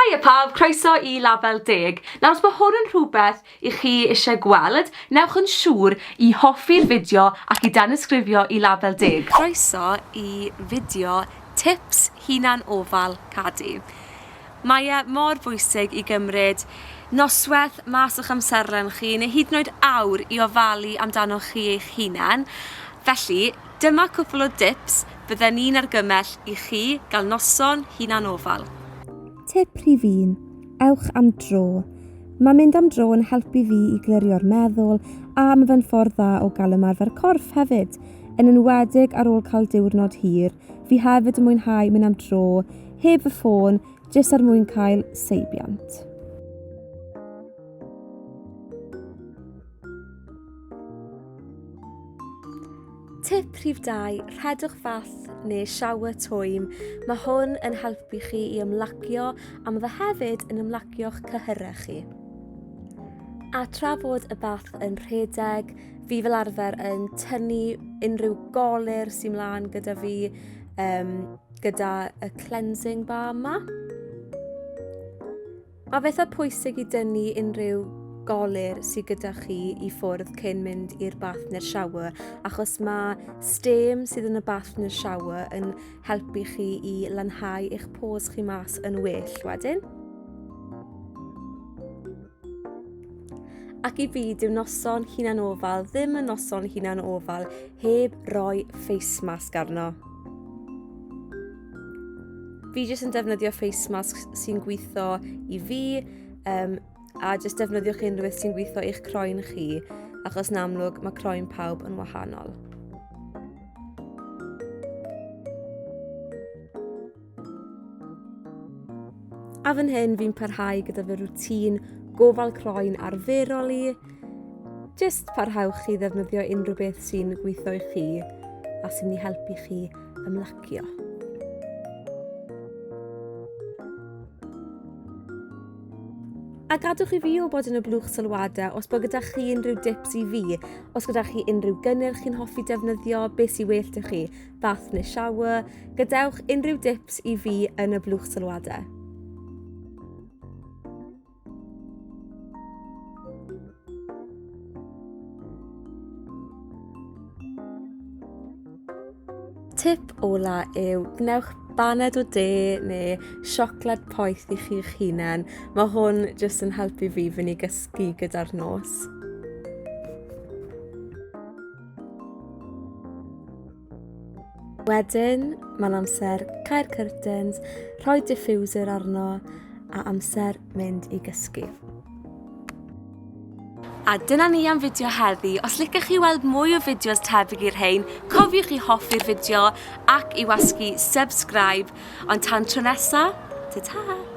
Haia pawb, croeso i Label Deg. Nawr os mae hwn yn rhywbeth i chi eisiau gweld, newch yn siŵr i hoffi'r fideo ac i danysgrifio i Label Deg. Croeso i fideo tips hunan ofal cadi. Mae e mor bwysig i gymryd nosweth mas o'ch amserlen chi neu hyd yn oed awr i ofalu amdanoch chi eich hunan, felly, Dyma cwpl o dips fydden ni'n argymell i chi gael noson hunanofal. Tip rhif un, ewch am dro. Mae mynd am dro yn helpu fi i glirio'r meddwl a mae fe'n ffordd dda o gael ymarfer corff hefyd, yn enwedig ar ôl cael diwrnod hir. Fi hefyd yn mwynhau mynd am dro heb fy ffôn jyst er mwyn cael seibiant. Tip rhif 2, rhedwch fath neu shower twym. Mae hwn yn helpu chi i ymlacio a mae fe hefyd yn ymlacio'ch cyhyrau chi. A tra fod y bath yn rhedeg, fi fel arfer yn tynnu unrhyw golir sy'n mlaen gyda fi um, gyda y cleansing bar yma. A phethau pwysig i dynnu unrhyw golir sydd gyda chi i ffwrdd cyn mynd i'r bath neu'r shower achos mae stêm sydd yn y bath neu'r shower yn helpu chi i lanhau eich pores chi mas yn well wedyn. Ac i fi, dyw noson hunan ofal ddim yn noson hunan ofal heb roi face mask arno. Fi jyst yn defnyddio face masks sy'n gweithio i fi um, a jyst defnyddiwch unrhyw beth sy'n gweithio i'ch croen chi achos yn amlwg mae croen pawb yn wahanol. A fan hyn fi'n parhau gyda fy rwtîn gofal croen arferol i. Jyst parhewch i ddefnyddio unrhyw beth sy'n gweithio i chi a sy'n ei helpu chi ymlacio. A gadwch i fi o bod yn y blwch sylwadau os bod gyda chi unrhyw dips i fi, os gyda chi unrhyw gynnyrch chi'n hoffi defnyddio, beth sy'n well i chi, bath neu shower, gadewch unrhyw dips i fi yn y blwch sylwadau. Tip ola yw gwnewch baned o de neu siocled poeth i chi'ch hunain. Mae hwn jyst yn helpu fi fyny gysgu gyda'r nos. Wedyn, mae'n amser cael curtains, rhoi diffuser arno a amser mynd i gysgu. A dyna ni am fideo heddi. Os licech chi weld mwy o fideos tebyg i'r rhain, cofiwch i hoffi'r fideo ac i wasgu subscribe. Ond tan tro nesa, ta-ta!